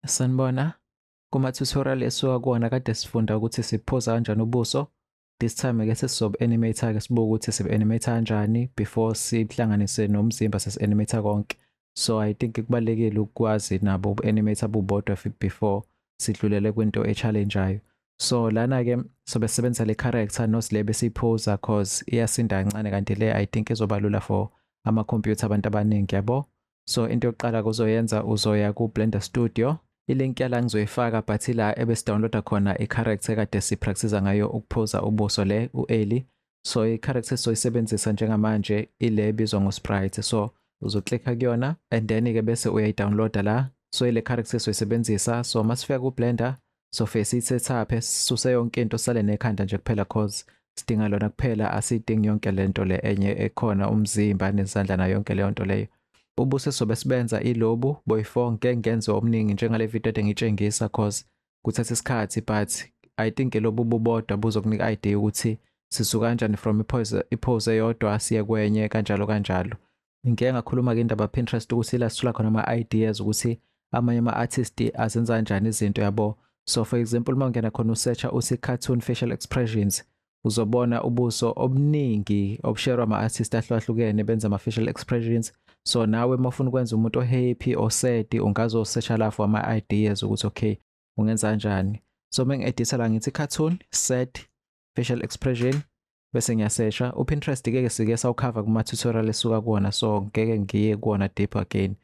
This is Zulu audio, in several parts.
Sanibona. Kuma tutorial esuka kuwona kade sifunda ukuthi siphoza kanjani ubuso. This time ke sesizob animator ke sibuke ukuthi sib animate kanjani before sihlanganise nomzimba sesi animator konke. So I think kubalekile ukwazi nabo uku animator bubodwa before sidlulele kwinto e challengeayo. So lana ke sobe sebenzisa le character nos le besiphoza cause iyasinda kancane kanti le I think izobalula for ama computer abantu abaningi yabo. so into yokuqala kuzoyenza uzoya ku Blender Studio ilink yala ngizoyifaka but ila ebesidownloada khona i-character kade sipractice ngayo ukuphuza ubuso le u-eli so i-character esizoyisebenzisa njengamanje ile ebizwa ngo-sprite so uzoklikha kuyona and then-ke bese uyayidownloada la so ile character esizoyisebenzisa so masifika ku-blender so face it sethaphe sisuse yonke into sale nekhanda nje kuphela cause sidinga lona kuphela asidingi yonke lento le enye ekhona umzimba nezandla na yonke leyo nto leyo ubuse sobe sibenza ilobu boyfo ngeke ngenze omningi njengale video ede ngitshengisa cause kuthatha isikhathi but i think lobu bubodwa buzokunika idea ukuthi sisu kanjani from ipose ipose eyodwa siye kwenye kanjalo kanjalo ngike ngakhuluma-ke indaba Pinterest ukuthi la sithola khona ama-ideas ukuthi amanye ama-artist azenza kanjani izinto yabo so for example uma ungena khona usearcha uthi cartoon facial expressions uzobona ubuso obuningi obusherwa ama-artist ahlukahlukene benza ama-facial expressions so nawe uma ufuna ukwenza umuntu ohappy osad ungazosearcha la for ama-ideas ukuthi okay ungenza kanjani so uma ngi-editha la ngithi cartoon sad facial expression bese ngiyasesha uPinterest ke ke sike sawukhava kuma tutorial esuka kuona so ngeke ngiye kuona deep again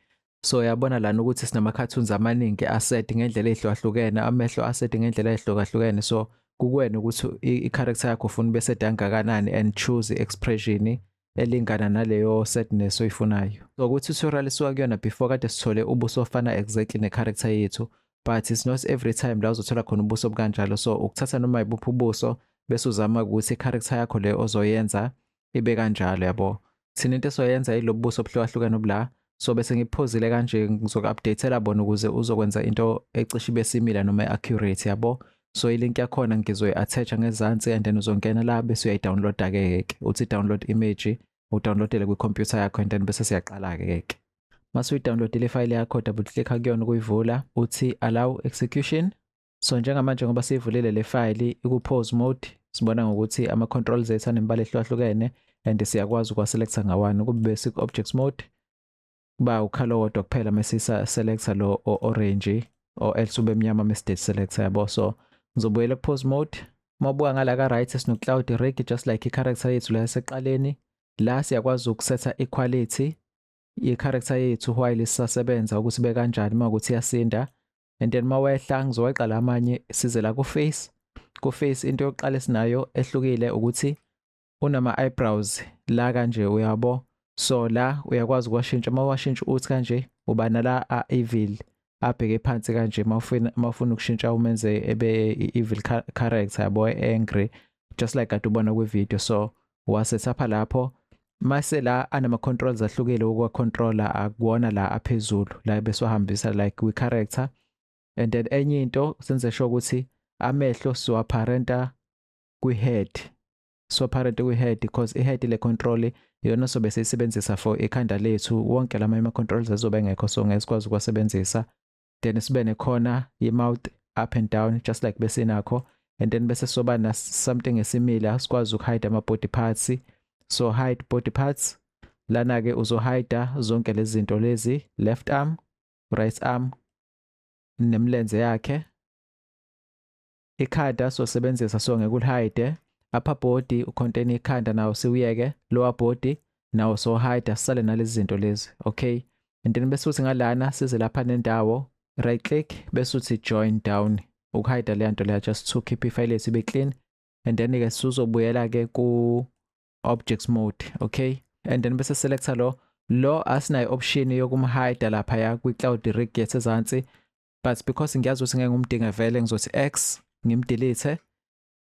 so yabona lana ukuthi sinama cartoons amaningi aset ngendlela ehlukahlukene amehlo aset ngendlela ehlukahlukene so kukwena ukuthi i-character yakho ufuna bese dangakanani and choose expression elingana naleyo sadness oyifunayo so kwi tutorial suka kuyona before kade sithole ubuso ofana exactly ne character yethu but it's not every time la uzothola khona ubuso obukanjalo so ukuthatha noma ibuphi ubuso bese uzama ukuthi i-character yakho le ozoyenza ibe kanjalo yabo thina into esoyenza ilobubuso obuhlukahlukene obula so bese ngikuphozile kanje ngizoku-updatela bona ukuze uzokwenza into ecishe ibe simila noma i-accurate yabo so ilink yakhona ngizoyi-attacha ngezansi and then uzongena la bese uyayidownloada-ke ke uthi download image udownloadele kwikhompyutha yakho and then bese siyaqala-ke ke mase uyidownloadile ifayile yakho double clicka kuyona ukuyivula uthi allow execution So njengamanje ngoba sivulile le file iku-pause mode sibona ngokuthi ama-controls ethu anemibala ehlukahlukene and siyakwazi ukuwaselecta ngawani kube siku-objects mode kuba ukhala owodwa kuphela uma sisa-selecta lo o-orange or else ube mnyama uma sidate selecta yabo so ngizobuyela ku-pause mode uma ubuka ngala ka-right sino-cloud rig just like i-character yethu la yaseqaleni la siyakwazi ukusetha i-quality ye-character yethu while isasebenza ukuthi bekanjani uma ukuthi iyasinda and then mawehla ngizoweqa la amanye size la ku face ku face into yokuqala esinayo ehlukile ukuthi unama eyebrows la kanje uyabo so la uyakwazi ukwashintsha uma washintsha uthi kanje uba nala a evil abheke phansi kanje mawufuna mawufuna ukushintsha umenze ebe evil character yabo angry just like kade ubona kwi video so wasesapha lapho mase la anama controls ahlukile ukwa controller akuwona la aphezulu la beswahambisa like we character and then enye into senze sure ukuthi amehlo siwaparenta kwi head siwaparenta kwi head because i head le control iyona sobe siyisebenzisa for ikhanda lethu wonke lama ama controls azobe engekho so ngeke sikwazi ukwasebenzisa then sibe nekhona ye-mouth up and down just like besinakho and then bese soba na something esimila sikwazi ukuhide ama-body parts so hide body parts lana-ke uzohida zonke lezi zinto lezi left arm right arm nemlenze yakhe ikhanda sosebenzisa so ngeke ulihide upper body ucontain ikhanda nawo siwuyeke lower body nawo so hide asale nalezi zinto lezi okay and then bese uthi ngalana size lapha nendawo right click bese uthi join down ukuhide le nto leya just to keep ifile lethu ibe clean and then ke sizobuyela ke ku objects mode okay and then bese selector lo lo asinayo option yokumhide lapha ya kwi cloud rig yethu ezansi but because ngiyazi ukuthi ngeke ngumdinge vele ngizothi x ngimdelete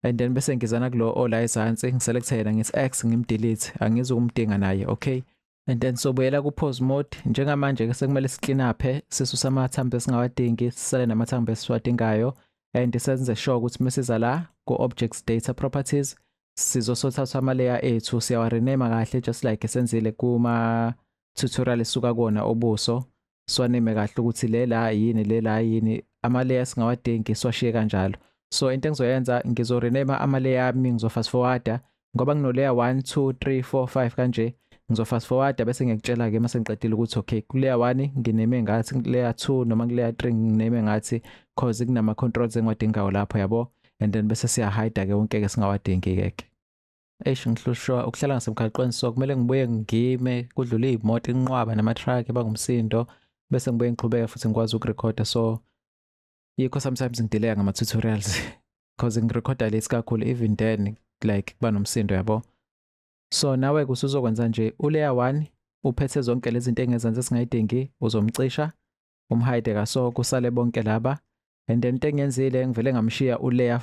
and then bese ngizana kulo ola ezansi ngiselecte yena ngithi x ngimdelete angizi ukumdinga naye okay and then sobuyela ku pause mode njengamanje ke sekumele siclean up sisusa amathambo esingawadingi sisale namathambo esiwadingayo and senze sure ukuthi mesiza la ku objects data properties sizosothatha ama layer ethu siyawa rename kahle just like esenzile kuma tutorial esuka kona obuso siwaneme kahle ukuthi le la yini le la yini amaleya singawadingi siwashiye kanjalo so into engizoyenza ngizorenema amaleya ami ngizofast forwarda ngoba nginoleya 1 2 3 4 5 kanje ngizofast forwarda bese ngiyakutshela ke mase ngiqedile ukuthi okay kuleya 1 ngineme ngathi kuleya 2 noma kuleya 3 ngineme ngathi cause kunama controls engiwadingayo lapho yabo and then bese siya hide ke wonke ke singawadingi ke Eish ngihlushwa ukuhlala ngasemgaqweni so kumele ngibuye ngime kudlule imoto inqwaba nama truck ebangumsindo bese ngibuye ngiqhubeke futhi ngikwazi ukurecorda so yikho sometimes ngidelaya ngama tutorials because ngirecorda late kakhulu even then like kuba nomsindo yabo so nawe kusuzokwenza nje uleya 1 uphethe zonke lezi zinto engezansi esingayidingi uzomcisha umhide kaso kusale bonke laba and then tengenzile ngivele ngamshiya uleya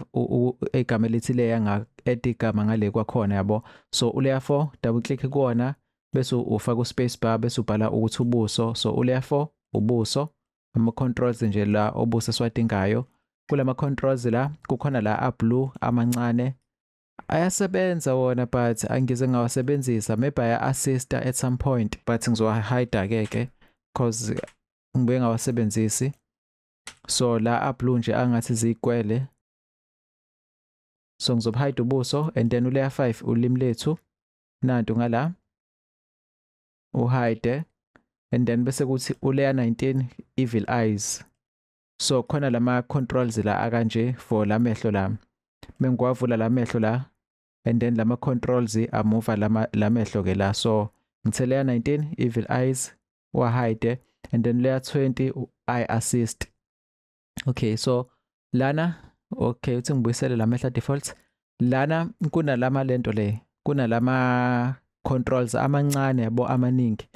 igama elithi leya nga add igama ngale kwakhona yabo so uleya 4 double click kuona bese ufaka uspace bar bese ubhala ukuthi ubuso so uleya 4 ubuso ama controls nje la obuso siwadingayo kulama controls la kukhona la a blue amancane ayasebenza wona but angize ngawasebenzisa maybe aya assista at some point but ngizowa hide ke ke cause ngibe ngawasebenzisi so la ablue nje angathi ziyikwele so ngizobhayida ubuso and then uleya 5 ulimi lethu nantu ngala uhide and then bese kuthi uleya 19 evil eyes so khona lama controls la akanje for lamehlo la mengiwavula lamehlo la and then lama controls amuva lama lamehlo ke la so ngithe layer 19 evil eyes wa hide and then layer 20 eye assist okay so lana okay uthi ngibuyisele lamehla defaults lana kunalama lento le kunalama controls amancane yabo amaningi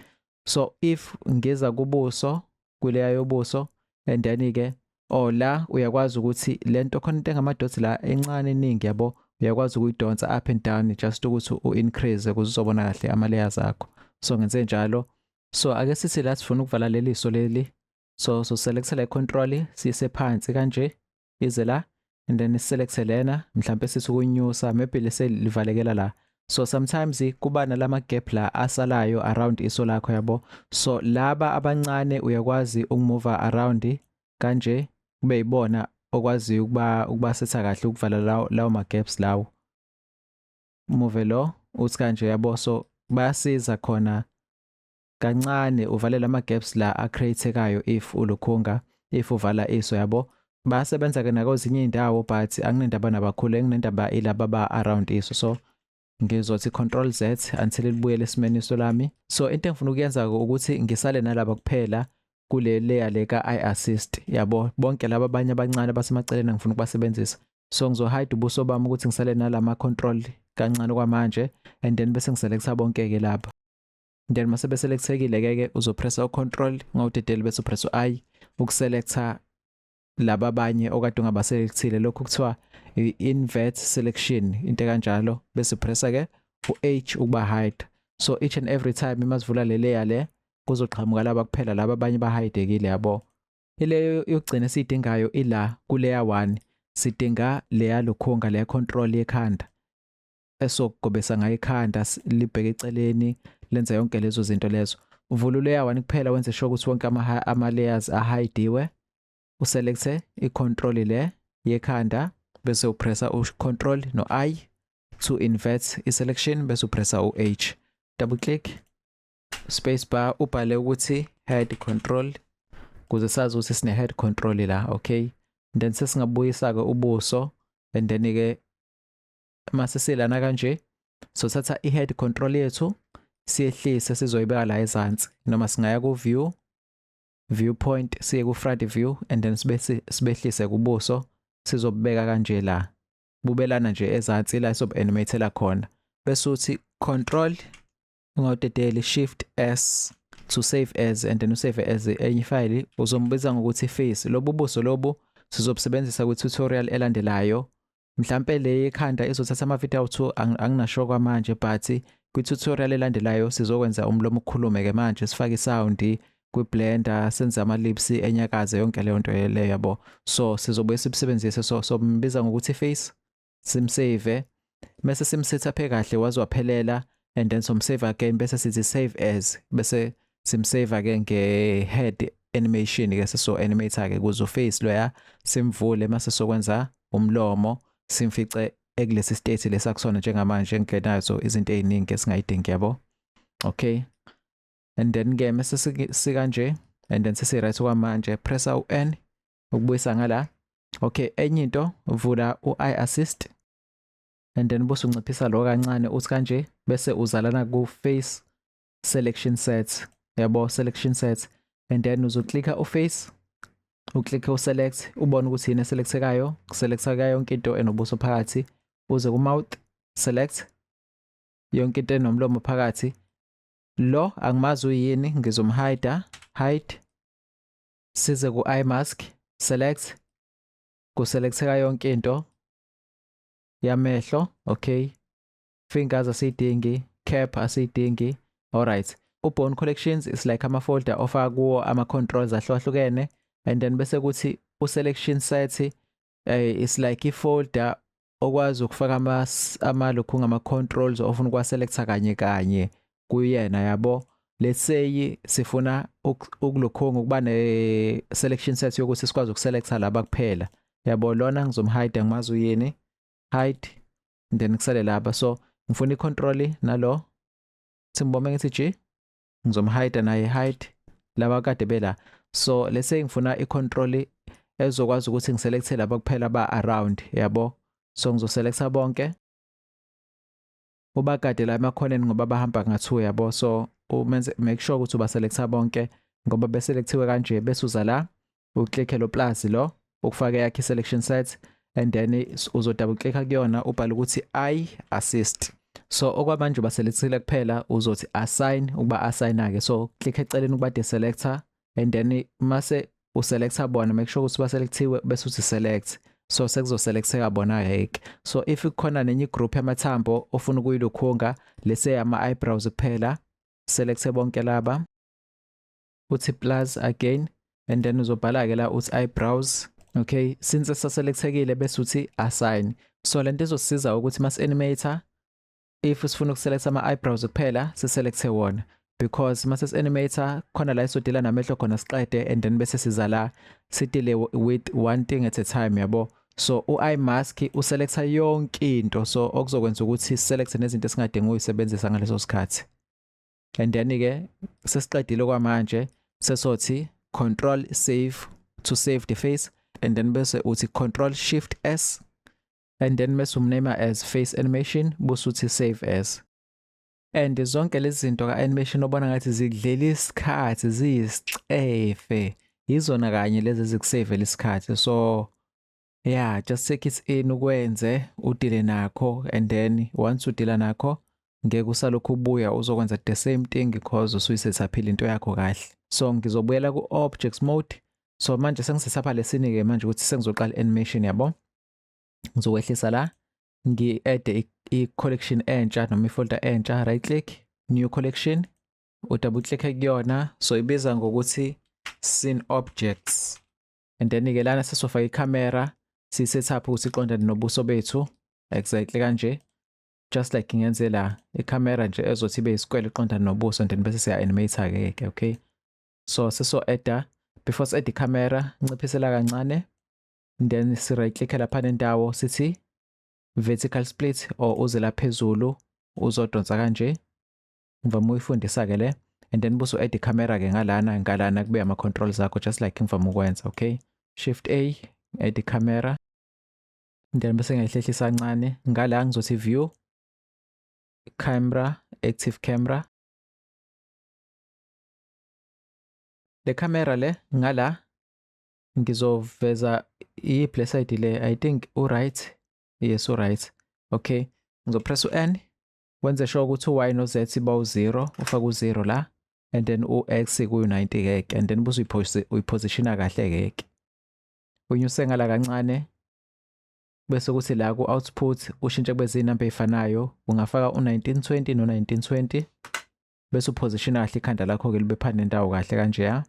so if ngiza kubuso kuleya yobuso and then ke or la uyakwazi ukuthi lento khona into engamadoti la encane eningi yabo uyakwazi ukuyidonsa up and down just ukuthi u-increase ukuze uzobona kahle ama-layers akho so ngenze njalo so ake sithi la sifuna ukuvala leli so leli so so selectela i-control siyise phansi kanje ize la and then select lena mhlambe sithi ukunyusa maybe lese livalekela la so sometimes kuba nalama gap la asalayo around iso lakho yabo so laba abancane uyakwazi ukumove around kanje kube yibona okwazi ukuba ukubasetha kahle ukuvala lawo lawo ma gaps lawo move lo uthi kanje yabo so bayasiza khona kancane uvalela ama gaps la a createkayo if ulukhunga if uvala iso yabo basebenza ke nakwezinye indawo but anginendaba nabakhulu enginendaba ilaba ba around iso so ngizothi control z until libuyele esimeni iso lami so into engifuna ukuyenza ukuthi ngisale nalaba kuphela kule layer le ka i assist yabo bonke laba abanye abancane basemaceleni ngifuna ukubasebenzisa so ngizohide ubuso bami ukuthi ngisale nalama control kancane kwamanje and then bese ngiselecta bonke ke lapha then mase beselectekile ke ke uzopressa ucontrol ngawudedeli bese upressa u-i ukuselecta laba abanye okade ungabaselectile lokhu kuthiwa i-invert selection into kanjalo bese upressa ke u-h ukuba hide so each and every time uma sivula le layer le kuzoqhamuka laba kuphela laba abanye bahidekile yabo ileyo yokugcina esiyidingayo ila kuleya 1 sidinga leya lukhunga leya control yekhanda esokugobesa ngayo ikhanda libheke eceleni lenza yonke lezo zinto lezo uvula uleya wani kuphela wenze sure ukuthi wonke ama, ama layers ahidiwe uselecte i-control le yekhanda bese upressa u-control no-i to invert i-selection bese upressa u-h double click space bar ubhale ukuthi head control kuze sazi ukuthi sine head control la okay then sesingabuyisa-ke ubuso and then-ke mase silana kanje sothatha i-head control yethu siyehlise sizoyibeka la ezansi noma singaya ku-view viewpoint siye ku-front view and then sibe sibehlise kubuso sizobubeka kanje la bubelana nje ezansi la sizobu-animatela khona bese uthi control ungadedeli shift s to save as and then usave as enye ifayili uzombiza ngokuthi face lobu buso lobu sizobusebenzisa kwi-tutorial elandelayo mhlampe le yekhanda izothatha amavidiyo awu-two anginasho kwamanje but kwi-tutorial elandelayo sizokwenza umlomo ukhulume ke manje sifake isawundi kwi-blender senze ama-lips enyakaze yonke leyo nto leyo yabo so sizobuye sibusebenzise so sombiza ngokuthi face simsave mese simsethaphe kahle waze waphelela and then somsave again bese sithi save as bese simsave ke nge head animation ke seso animate ke kuzo face loya simvule mase sokwenza umlomo simfice ekulesi state lesakusona njengamanje engilenayo so izinto eziningi esingayidingi yabo okay and then ke mase sikanje and then sesi right kwamanje press u n ukubuyisa ngala okay enye into vula u i assist and then bose unciphisa lo kancane uthi kanje bese uzalana ku face selection sets yabo selection sets and then uzoclicka uface uclicke uselect ubone ukuthi yini eselectekayo kuselecta kayo yonke into enobuso phakathi uze kumouth select yonke into enomlomo phakathi lo angimazi uyini ngizomhida hide size ku eye mask select kuselecteka yonke into yamehlo okay fingers asiyidingi cap asiyidingi alright ubone collections is like ama folder ofaka kuwo ama controls ahlukahlukene and then bese kuthi u selection set uh, eh, is like i folder okwazi ukufaka ama ama lokhu ngama controls ofuna ukwa selecta kanye kanye kuyena yabo let's say sifuna ukulokhonga ukuba ne selection set yokuthi sikwazi ukuselecta laba kuphela yabo lona ngizomhide ngimazi uyini hide then kusale laba so ngifuna icontrol nalo simbome ngithi g ngizomhide naye hide laba kade bela so let's say ngifuna icontrol ezokwazi ukuthi ngiselecte laba kuphela ba around yabo so ngizoselecta bonke ubagade la emakhoneni ngoba bahamba ngathiwa yabo so umenze make sure ukuthi ubaselecta bonke ngoba beselectiwe kanje besuza la uclick lo plus lo ukufaka yakhe selection set and then uzo double click kuyona ubhala ukuthi i assist so okwamanje ubaselethile kuphela uzothi assign ukuba assigna ke so click eceleni ukuba deselector and then mase uselecta bona make sure ukuthi baselectiwe bese uthi select so sekuzoselecteka bona hake so if kukhona nenye igroup yamathambo ofuna ukuyilukhunga lese ama eyebrows kuphela selecte bonke laba uthi plus again and then uzobhala-ke la uthi eyebrows okay since saselekthekile bese uthi assign so lento izosiza ukuthi mas animator if sifuna ukuselecta ama eyebrows kuphela siselecte wona because mase animator khona la isodila namehlo khona siqede and then bese siza la sidile with one thing at a time yabo so u-eye mask uselecta yonke into so okuzokwenza ukuthi select nezinto esingadingi uyisebenzisa ngaleso sikhathi and then ke sesiqedile kwamanje sesothi control save to save the face and then bese uthi control shift s and then bese umname as face animation bese uthi save as and zonke lezi zinto ka-animation obona ngathi zidlela isikhathi ziyisicefe yizona kanye lezi ezikusevela isikhathi so Yeah, just take it in ukwenze udile nakho and then once udila nakho ngeke usalokhu ubuya uzokwenza the same thing because usuyisethaphile into yakho kahle. So ngizobuyela ku objects mode. So manje sengisesapha lesini ke manje ukuthi sengizoqala animation yabo. Ngizokwehlisa la ngi add i collection entsha noma i folder entsha right click new collection u double click kuyona so ibiza ngokuthi scene objects and then ke lana sesofaka icamera si set up ukuthi iqondane nobuso bethu exactly kanje just like ngenze la icamera nje ezothi ibe isikwele iqondane nobuso and then bese siya animate ke ke okay so seso edda before si add icamera nciphisela kancane then si right click lapha nendawo sithi vertical split or uzela phezulu uzodonsa kanje ngivame ukuyifundisa-ke le and then buse u-add i-camera-ke ngalana ngalana kube ama-controls akho just like ngivame ukwenza okay shift a add i-camera then bese ngiyayihlehlisa kancane ngala ngizothi view camera active camera le camera le ngala ngizoveza i-play side le i think u-right yes u-right okay ngizopress u-n wenze sure ukuthi u-y no-z bawu-zero ufake u-zero la and then u-x kuyu-90 keke and then buze uyiphosishina kahle keke unyuse ngala kancane bese kuthi la ku-output ushintshe kube zinamba ey'fanayo ungafaka u-1920 no-1920 bese uphosishina kahle ikhanda lakho-ke libe phana nendawo kahle kanjeya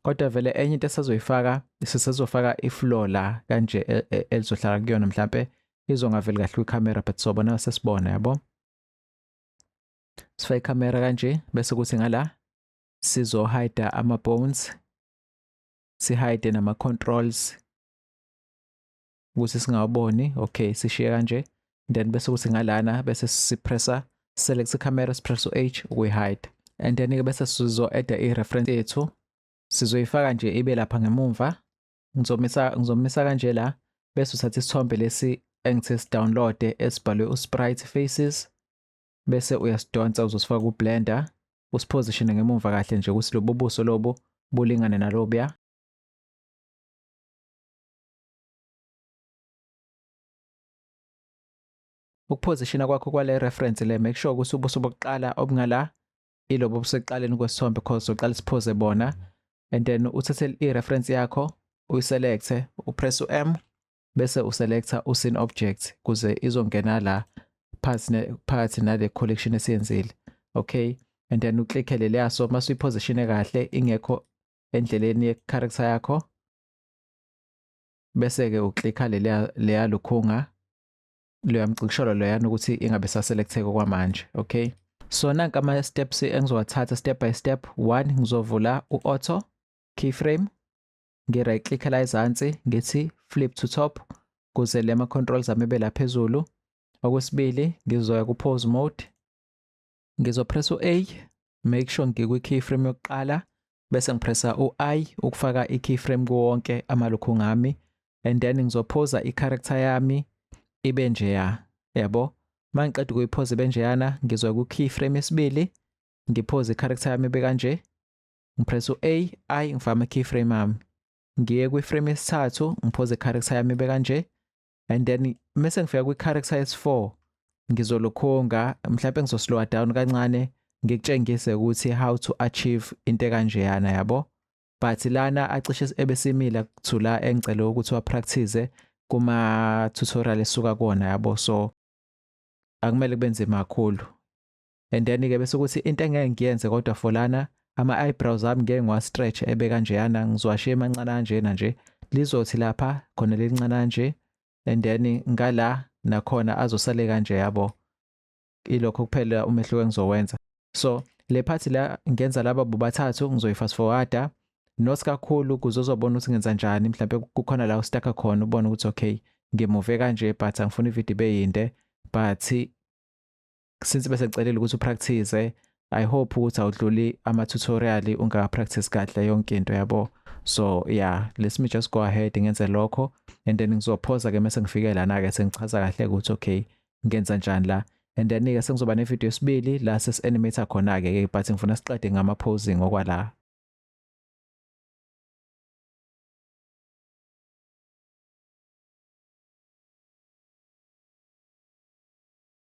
kodwa vele enye into esazoyifaka sisezofaka ifloor la kanje e, e, elizohlala kuyona mhlampe izongaveli kahle kwikhamera but sobona sesibona yabo sifake ikhamera kanje bese kuthi ngala sizohide ama-bones sihide nama-controls ukuthi singawaboni okay sishiye kanje then bese ukuthi ngalana bese sipressa select camera sipressa u-h ukuyi-hide and then-ke bese sizo-adda i-reference yethu sizoyifaka nje ibe lapha ngemumva ngizomisa ngizomisa kanje la bese uthatha isithombe lesi engithe sidownloade esibhalwe usprite faces bese uyasidonsa uzosifaka kublender usiposition ngemumva kahle nje ukuthi lobo buso lobo bulingane nalobuya Ukuphozishina kwakho kwale reference le make sure ukuthi ubuso bokuqala obungala ilobo obusekuqaleni kwesithombe because uqala siphoze bona and then uthathe i-reference yakho uyiselecte upress u-m bese uselecta usin object kuze izongena la phakathi nale collection esiyenzile okay and then uklikhe leliyaso mase uyiphozishine kahle ingekho endleleni ye-character yakho bese-ke uklikha leya leya lukhunga loya mcikisholo loyana ukuthi ingabe saselektheke kwamanje okay so nanka ama steps engizowathatha step by step one ngizovula u-auto keyframe ngi-right click la ezansi ngithi flip to top kuze le ma-controls ami ebe la phezulu okwesibili ngizoya ku-pause mode ngizopressa u-a make sure ngikwi keyframe yokuqala bese ngipressa u-i ukufaka i-keyframe kuwonke amalokhu ngami and then ngizophoza i-character yami ibe njeya yabo uma ngiqeda ukuyiphoza ibe njeyana ngizoya ku-keyframe esibili ngiphoze i-character yami ibe kanje ngipressa u-a i ngifaka ama-keyframe ami ngiye kwiframe yesithathu ngiphoze i-character yami ibe kanje and then mese ngifika kwi-character yesi-4 ngizolokhonga mhlawumpe ngizoslowa down kancane ngikutshengise ukuthi how to achieve into ekanjeyana yabo but lana acishe ebesimila kuthula engicele ukuthi wapractice kuma tutorial esuka kona yabo so akumele kube nzima kakhulu and then ke bese ukuthi into engeke ngiyenze kodwa for lana ama eyebrows ami ngeke ngiwa stretch ebe kanjeyana ngizwashe emancane kanjena nje lizothi lapha khona lelincane kanje and then ngala nakhona azosale kanje yabo ilokho kuphela umehluko engizowenza so le part la ngenza laba bobathathu ngizoyifast forwarda nosi kakhulu kuze uzobona ukuthi ngenza njani mhlawumbe kukhona la ustakha khona ubone ukuthi okay ngimuve kanje but angifuni ividiyo ibe yinde but since bese kucelela ukuthi upractice i hope ukuthi awudluli ama tutorial ungaka practice kahle yonke into yabo so yeah let me just go ahead ngenze lokho and then ngizophoza ke mase ngifike lana ke sengichaza kahle ukuthi okay ngenza njani la and then ke sengizoba ne video esibili la sesi animator khona ke but ngifuna siqede ngama posing okwala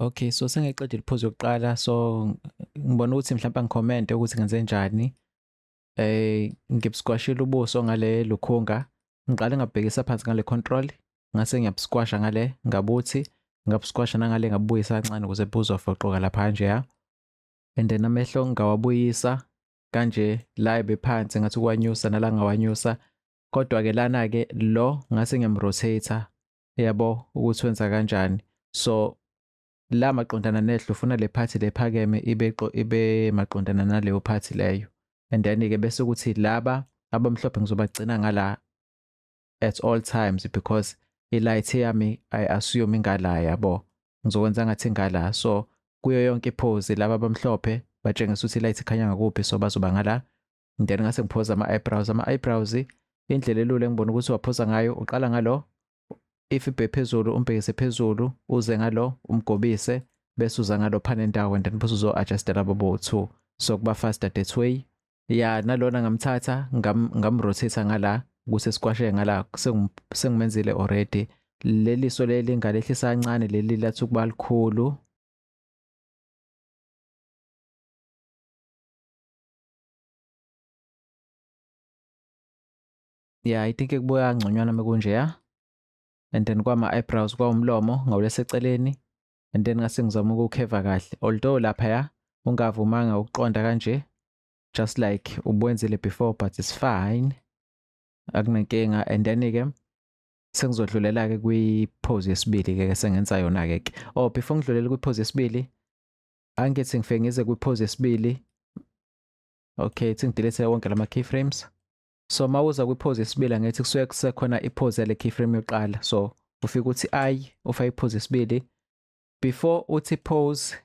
Okay, so sengiqedile iphuzu yokuqala so ngibona ukuthi mhlawumbe ngicommente ukuthi ngenze njani. Eh ngibusquashile ubuso ngale lukhunga. Ngiqale ngabhekisa phansi ngale control, ngase ngiyabusquasha ngale ngabuthi, ngabusquasha nangale ngabuyisa kancane ukuze buzofoqoka lapha nje ya. And then amehlo ngawabuyisa kanje la ebephansi ngathi kwanyusa nala ngawanyusa kodwa ke lana ke lo ngase ngiyamrotate yabo ukuthi wenza kanjani so la maqondana nehlo ufuna le phathi lephakeme ibe ibe maqondana naleyo phathi leyo and then ke bese ukuthi laba abamhlophe ngizobagcina ngala at all times because ilight yami i assume ingala yabo ngizokwenza ngathi ingala so kuyo yonke iphozi laba abamhlophe batshengisa ukuthi ilight ikhanya ngakuphi so bazoba ngala and then ngase ngiphoza ama-eyebrows ama-eyebrows indlela elula engibona ukuthi waphoza ngayo uqala ngalo if ibhe phezulu umbhekise phezulu uze ngalo umgobise bese uza ngalo phana endawo and then bese uzo-adjustela babo two so kuba faster that way ya nalona ngamthatha ngamrothisa ngala kuse sikwashe ngala sengimenzile already leli so leli ngalehlisa kancane leli lathi ukuba likhulu yeah i think kubuya ngconywana mekunjeya and then kwama-eyebrows kwawumlomo ngawuleseceleni and then ngase ngizama ukukheva kahle although lapha ya ungavumanga ukuqonda kanje just like ubwenzile before but it's fine akunankinga and then-ke sengizodlulela-ke kwi-pose yesibili-ke sengenza yona-ke ke oh before ngidlulele kwi-pose yesibili angithi ngifike ngize kwiphozi yesibili okay ithi ngidelete wonke lama keyframes so uma uza kwiphozi yesibili angithi kusuke kusekhona iphozi yale keyframe yokuqala so ufike ukuthi i ufa iphozi yesibili before uthi pose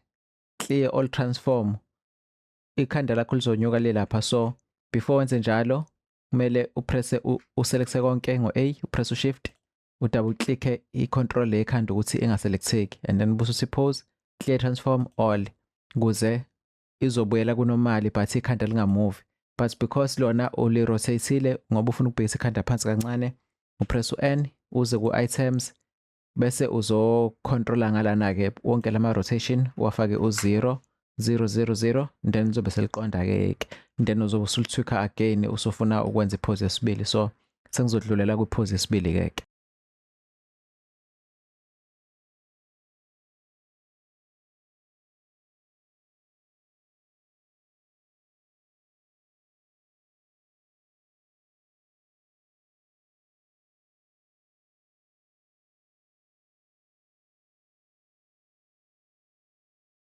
clear all transform ikhanda lakho lizonyuka le lapha so before wenze njalo kumele upresse uselecte konke ngo-a upresse ushift udouble click i control le khanda ukuthi engaselecteki and then busu suppose clear transform all kuze izobuyela kunomali but ikhanda lingamuvi but because lona uli rotateile ngoba ufuna ukubhekisa ikhanda phansi kancane upress u-n uze ku-items bese uzocontrola ngalana-ke wonke lama-rotation uwafake u-zero 000 then lizobe seliqonda-ke ke then uzobe usulithwikha again usufuna ukwenza iphozi yesibili so sengizodlulela kwiphozi yesibili ke ke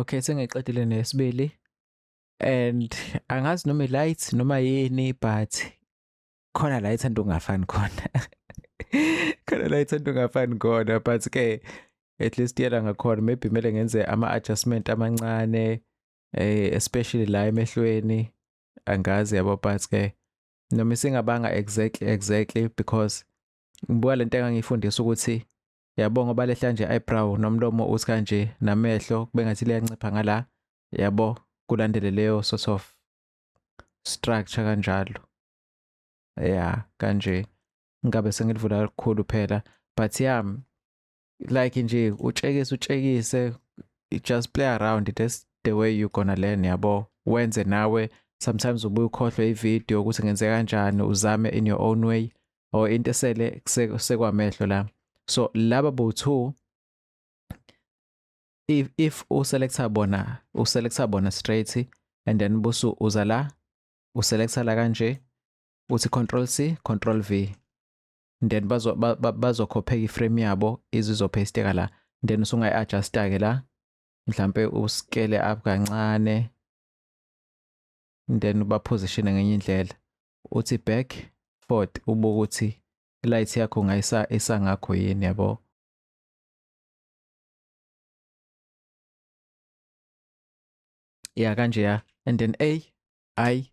Okay, sengiqedile nesibili and angazi noma i-light noma yini but khona la ithanda ungafani khona khona la ithanda ungafani khona but ke at least yela ngakhona maybe kumele ngenze ama-adjustment amancane eh especially la emehlweni angazi yabo but ke noma isingabanga exactly exactly because ngibuka lento engangifundisa ukuthi yabo ngoba lehla nje eyebrow nomlomo uthi kanje namehlo kube ngathi liyancipha ngala yabo kulandele leyo sort of structure kanjalo yeah kanje ngabe sengilivula kakhulu phela but yami like nje utshekise utshekise just play around that's the way you gonna learn yabo wenze nawe sometimes ubuye ukhohlwe ivideo ukuthi ngenze kanjani uzame in your own way or into esele sekwamehlo la so laba bo-two if if uselecta bona uselecta bona straight and then busu uza la uselecta la kanje uthi control c control v then bazo bazokhopheka iframe yabo izizopasteka la then usungayi adjusta ke la mhlambe uskele up kancane then uba position ngenye indlela uthi back forward ubuke ukuthi light yakho ngayisa isangakho yini yabo ya kanje ya and then a i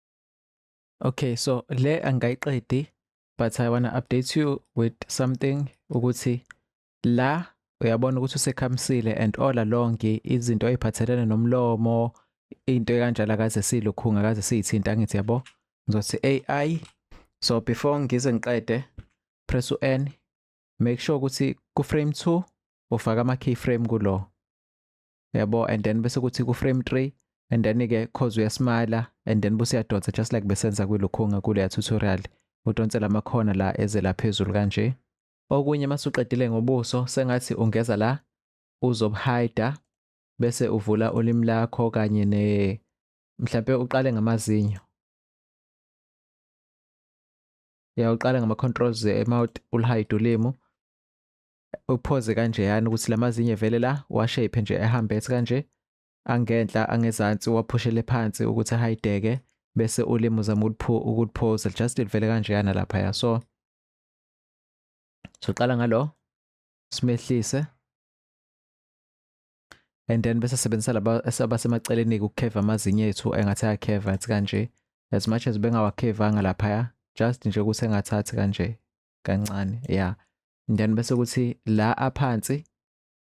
Okay, so le angayiqedi but I wanna update you with something ukuthi la uyabona ukuthi usekhamsile and all along izinto eziphathelene nomlomo into ekanjalo akaze silukhunga akaze siyithinta ngithi yabo ngizothi AI so before ngize ngiqede press u-N make sure ukuthi ku-frame 2 ufaka ama-keyframe kulo yabo and then bese kuthi ku frame 3 and then ke cause uyasmile and then buse yadonsa just like besenza kwilokhunga kule tutorial udonsela amakhona la eze la phezulu kanje okunye masuqedile ngobuso sengathi ungeza la uzobuhida bese uvula ulimi lakho kanye ne mhlambe uqale ngamazinyo ya uqale ngama controls emouth ulihide ulimi uphoze kanje yani ukuthi lamazinye vele la washape nje ehambe ethi kanje angenhla angezansi waphushele phansi ukuthi ahayideke bese ulimi uzama ukuphoza just livele kanje yana lapha ya so soqala ngalo simehlise and then bese sebenzisa laba esabasemaceleni ukukheva amazinyo ethu engathi ayakheva athi kanje as much as bengawakevanga laphaya just nje ukuthi engathathi kanje kancane ya then bese kuthi la aphansi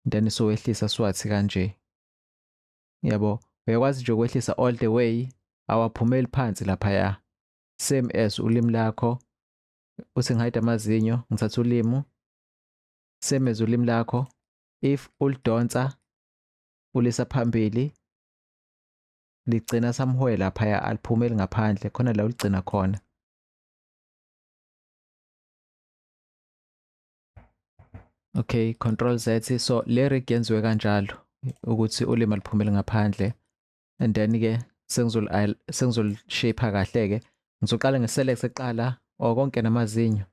then sowehlisa swathi kanje yabo uyakwazi nje ukwehlisa all the way awaphumeli phansi lapha ya same as ulimi lakho uthi ngihide amazinyo ngithatha ulimu same as ulimi lakho if ulidonsa ulisa phambili ligcina samhwela phaya aliphumeli ngaphandle khona la uligcina khona Okay, control Z so le rig yenziwe kanjalo ukuthi ulima liphumele ngaphandle and then ke sengizol sengizol shape kahle ke ngizoqala nge select eqala or oh, konke namazinyo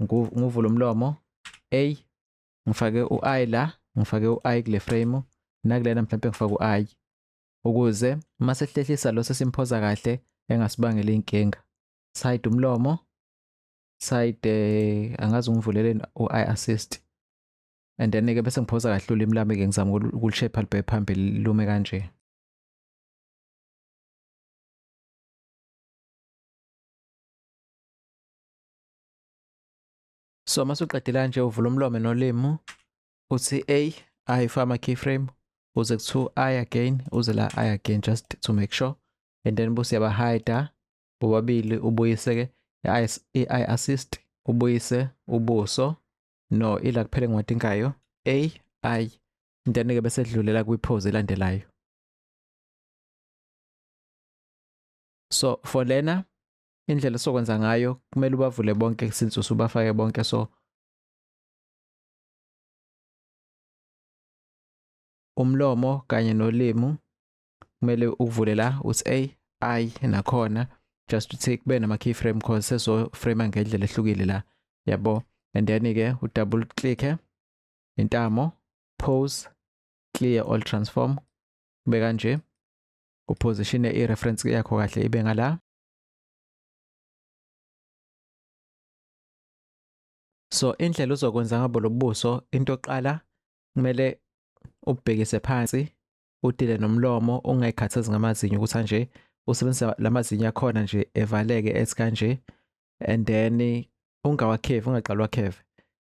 ngivula umlomo A ngifake u I la ngifake u I kule frame nakulena mhlawumbe ngifake u I ukuze uma sehlehlisa lo sesimphoza kahle engasibangela inkinga side umlomo side eh, angazi ungivuleleni u-i assist and then ke bese ngiphosa kahle ulimi lami ke ngizama ukulishape libe phambili lume kanje so uma suqedela nje uvula umlomo nolimi uthi a ayifaka ama keyframe uze kuthiwa i again uze la i again just to make sure and then bose yabahida bobabili ubuyise ke i-eye assist ubuyise ubuso no ila kuphela engiwadingayo a i then ke bese dlulela kwi-pose elandelayo so for lena indlela sokwenza ngayo kumele ubavule bonke since usubafake bonke so umlomo kanye nolimu kumele ukuvule la uthi a i nakhona just to take be nama keyframe because seso frame ngendlela ehlukile la yabo and then ke u double click intamo pose clear all transform kube kanje uposition i reference yakho kahle ibe ngala so indlela uzokwenza ngabo lobuso into oqala kumele ubhekise phansi udile nomlomo ungayikhathazi ngamazinyo ukuthi anje usebenzisa lamazinyo akhona nje evaleke ethi kanje and then ungawakhevi ungaqalwa kheve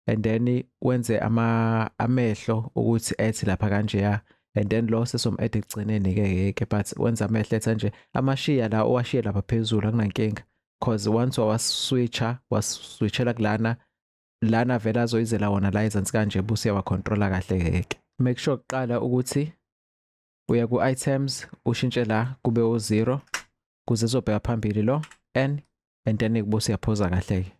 and then wenze ama amehlo ukuthi ethi lapha kanje ya and then lo sesom add ekugcineni ke yeke but wenza amehlo ethi kanje amashiya la owashiye lapha phezulu akunankinga cause once wawaswitcha waswitchela kulana lana vele azoyizela wona la ezansi kanje busi yawacontrola kahle keke make sure kuqala ukuthi uya ku-items ushintshe la kube u-zero kuze zobheka phambili lo n and then kubo siyaphoza kahle-ke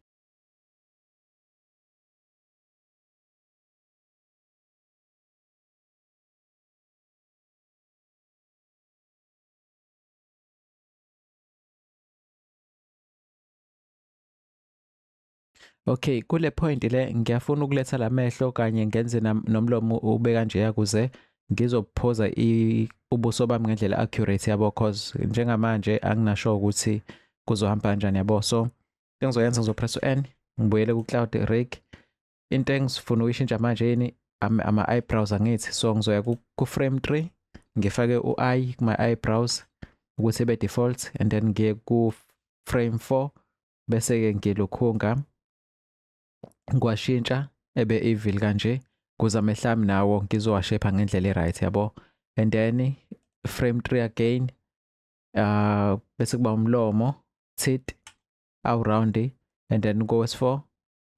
Okay, kule point le ngiyafuna ukuletha lamehlo kanye ngenze nomlomo ube kanje yakuze ngizophoza ubuso bami ngendlela accurate yabo cause njengamanje anginasho ukuthi kuzohamba kanjani yabo so engizoyenza ngizopress u-n ngibuyele ku-cloud rig into engifuna ukuyishintsha manje yini ama-eyebrows angithi so ngizoya ku-frame tree ngifake u-i kuma-eyebrows ukuthi ebe-default and then ngiye ku-frame four bese-ke ngilukhunga ngiwashintsha ebe evil kanje kuze amehla ami nawo ngizowashepha ngendlela e-right yabo and then frame three again uh, bese kuba umlomo tit awuroundi and then kowesi-four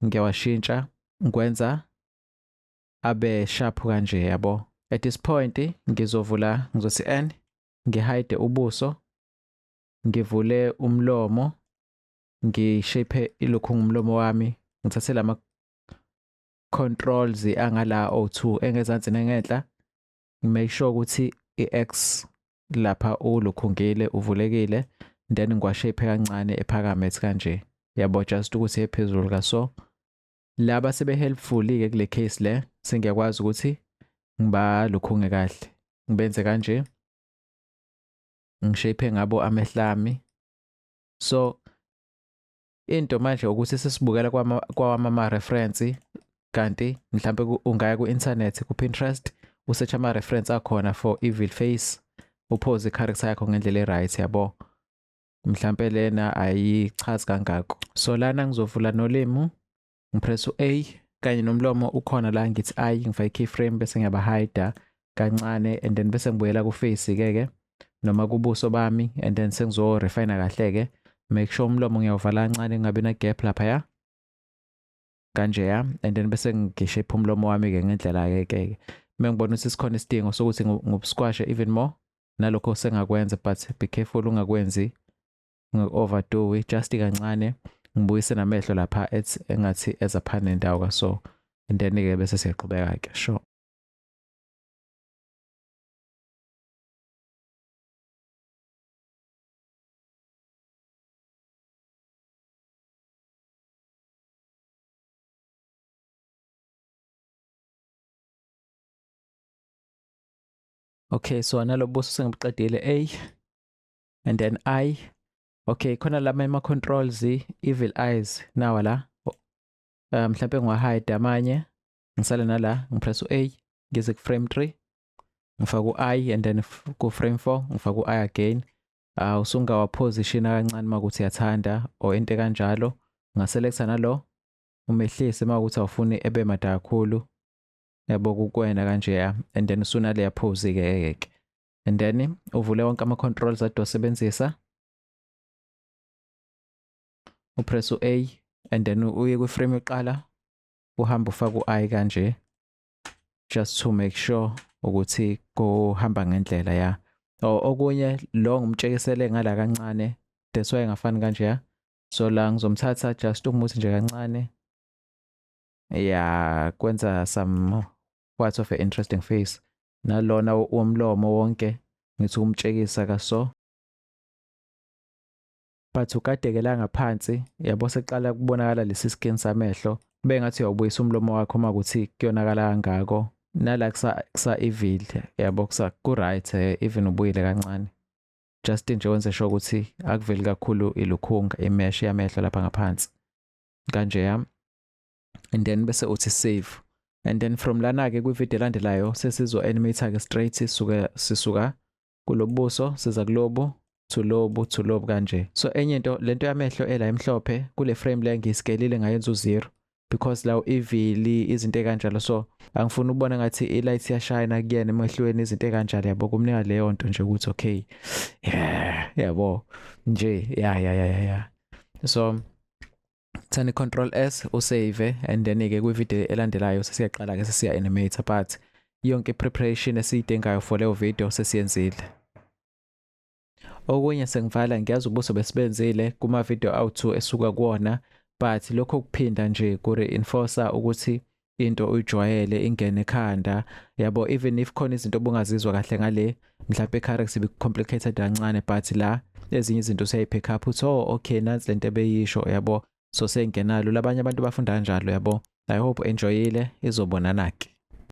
ngiyawashintsha ngikwenza abe sharp kanje yabo at this point ngizovula ngizothi n ngihide ubuso ngivule umlomo ngishape ilokhu ngumlomo wami ngithathe lama controls angala O2 engezansi nengenhla make sure ukuthi iX lapha ulukhungile uvulekile then ngiwashape kancane ephakame ethi kanje yabo just ukuthi ephezulu ka so laba sebe helpful ke kule case le sengiyakwazi ukuthi ngibalukhunge kahle ngibenze kanje ngishape ngabo amehlami so into manje ukuthi sesibukela kwama kwawama ama reference kanti mhlambe ungaya ku internet ku Pinterest usearch ama reference akhona for evil face uphoze icharacter yakho ngendlela eright yabo mhlambe lena ayichazi kangako so lana ngizovula nolimi ngipress u-a kanye nomlomo ukhona la ngithi i ngifake i-keyframe bese ngiyabahida kancane and then bese ngibuyela kufesi-ke ke noma kubuso bami and then sengizo-refina kahle-ke make sure umlomo ngiyawuvala kancane kungabi na-gap laphaya kanje ya and then bese ngishephe umlomo wami-ke ngendlela-ke ke uma ngibona ukuthi sikhona isidingo sokuthi ngibusquashe even more nalokho sengakwenza but be careful ungakwenzi ngi-overdoe just kancane ngibuyise namehlo lapha ethi engathi eza phana nendawo kaso and then-ke bese siyaqhubeka-ke sure Okay, so analobuso sengibuqedile. Ey, and then i okay khona lama ama controls evil eyes nawa la um mhlawumbe ngiwahide amanye ngisale nala ngipress u-a ngize ku-frame 3 ngifake u-i and then ku-frame 4 ngifake u-i again uh, usungawaphositiona kancane uma kuthi yathanda or into kanjalo ungaselektha nalo umehlise uma ukuthi awufuni ebe mada kakhulu yabo kukwena kanjeya and then usunaleya phozi-ke ke and then uvule wonke ama-controls ade wasebenzisa upress u-a and then uye kwi-frame yokuqala uhambe ufake u-i kanje just to make sure ukuthi kuhamba ngendlela ya okunye lo ngimtshekisele ngala kancane that's why ngafani kanje ya so la ngizomthatha just umuthi nje kancane ya kwenza some what of a interesting face nalona womlomo wonke ngithi umtshekisa kaso but ugadekela ngaphansi yabo seqala kubonakala lesi skin samehlo kube ngathi uyawubuyisa umlomo wakho uma kuthi kuyonakala kangako nala kusa kusa evil yabo kusa ku right eh, even ubuyile kancane just nje wenze sure ukuthi akuveli kakhulu ilukhunga imesh yamehlo lapha ngaphansi kanje yami and then bese uthi save and then from lana ke kwivideo elandelayo sesizo animate ke straight sisuka sisuka kulobuso siza kulobu to lobu to lobu kanje so enye into lento yamehlo ela emhlophe kule frame le ngiyisikelile ngayenza u0 because lawo ivili izinto ekanjalo so angifuni ukubona ngathi ilight yashayina kuyena emehlweni izinto ekanjalo yabo kumnika leyo nto nje ukuthi okay yeah yabo nje yeah yeah yeah yeah so Thani control S usave and then ke kwi video elandelayo sesiyaqala ke sesiya animate but yonke preparation esiyidingayo for leyo video sesiyenzile. Okunye sengivala ngiyazi ubuso besibenzile kuma video awu2 esuka kuwona but lokho kuphinda nje ku reinforcer ukuthi into uyijwayele ingene ekhanda yabo even if khona izinto obungazizwa kahle ngale mhlawumbe icarex ibicomplicated kancane but la ezinye izinto useyayipick up uthi oh okay nansi lento ebeyisho yabo so sengenalo labanye abantu bafunda kanjalo yabo i hope enjoyile izobonana ke